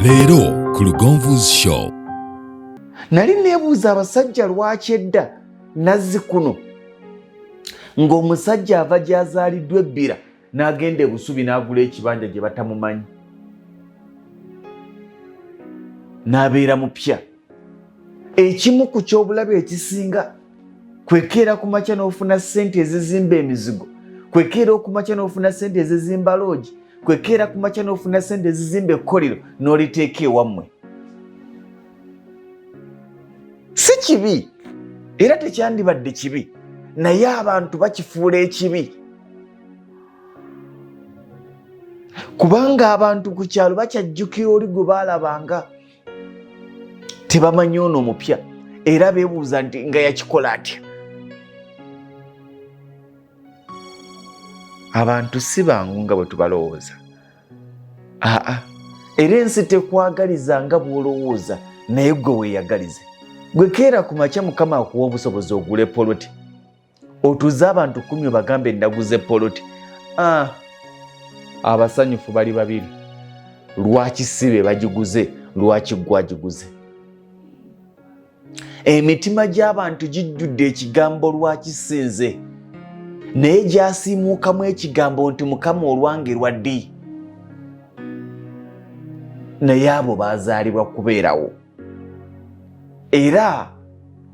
leero ku lugonvu's show nali nebuuza abasajja lwaki edda nazzi kuno ng'omusajja ava gyazaaliddwa ebbira n'agenda ebusubi n'agula ekibanja gye batamumanyi n'abeera mupya ekimu ku ky'obulabe ekisinga kwekeera ku makya n'ofuna ssente ezizimba emizigo kwekeera okumakya n'ofuna ssente ezizimba loogi kwekeera ku makya n'ofuna ssente ezizimba ekkolero n'oliteeka ewammwe si kibi era tekyandibadde kibi naye abantu bakifuula ekibi kubanga abantu ku kyalo bakyajjukira oli gwe baalabanga tebamanyi ono omupya era bebuuza nti nga yakikola atya abantu si bangu nga bwe tubalowooza aa era ensi tekwagaliza nga bw'olowooza naye gwe weeyagalize gwe keera ku makya mukama akuwa obusobozi ogule poloti otuze abantu kumi obagambe naguze poloti ah, abasanyufu bali babiri lwaki si be bagiguze lwaki gwagiguze emitima gy'abantu gijjudde ekigambo lwaki sinze naye gyasiimuukamu ekigambo nti mukama olwange lwa ddi naye abo bazaalibwa kubeerawo era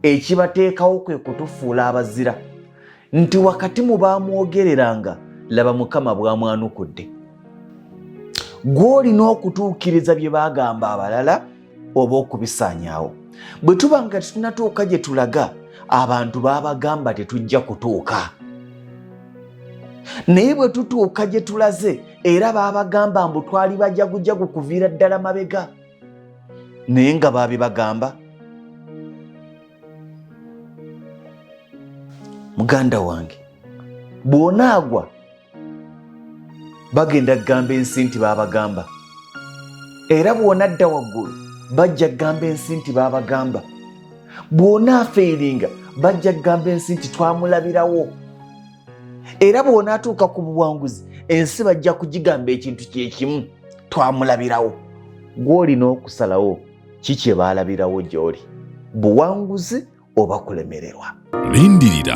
ekibateekawo kwe kutufuula abazira nti wakati mu baamwogereranga laba mukama bwamwanukudde gw'olina okutuukiriza bye baagamba abalala oba okubisaanyaawo bwe tuba nga tetunatuuka gye tulaga abantu baabagamba tetujja kutuuka naye bwe tutuuka gye tulaze era baabagamba mbu twali bajagujagu kuviira ddala mabega naye nga baabibagamba muganda wange bw'onaagwa bagenda kugamba ensi nti baabagamba era bw'onadda waggulu bajja kugamba ensi nti baabagamba bw'onaafaeringa bajja kugamba ensi nti twamulabirawo era bw'onaatuuka ku buwanguzi ensi bajja kugigamba ekintu kye kimu twamulabirawo gw'olina okusalawo ki kye baalabirawo gy'oli buwanguzi oba kulemererwa lindirira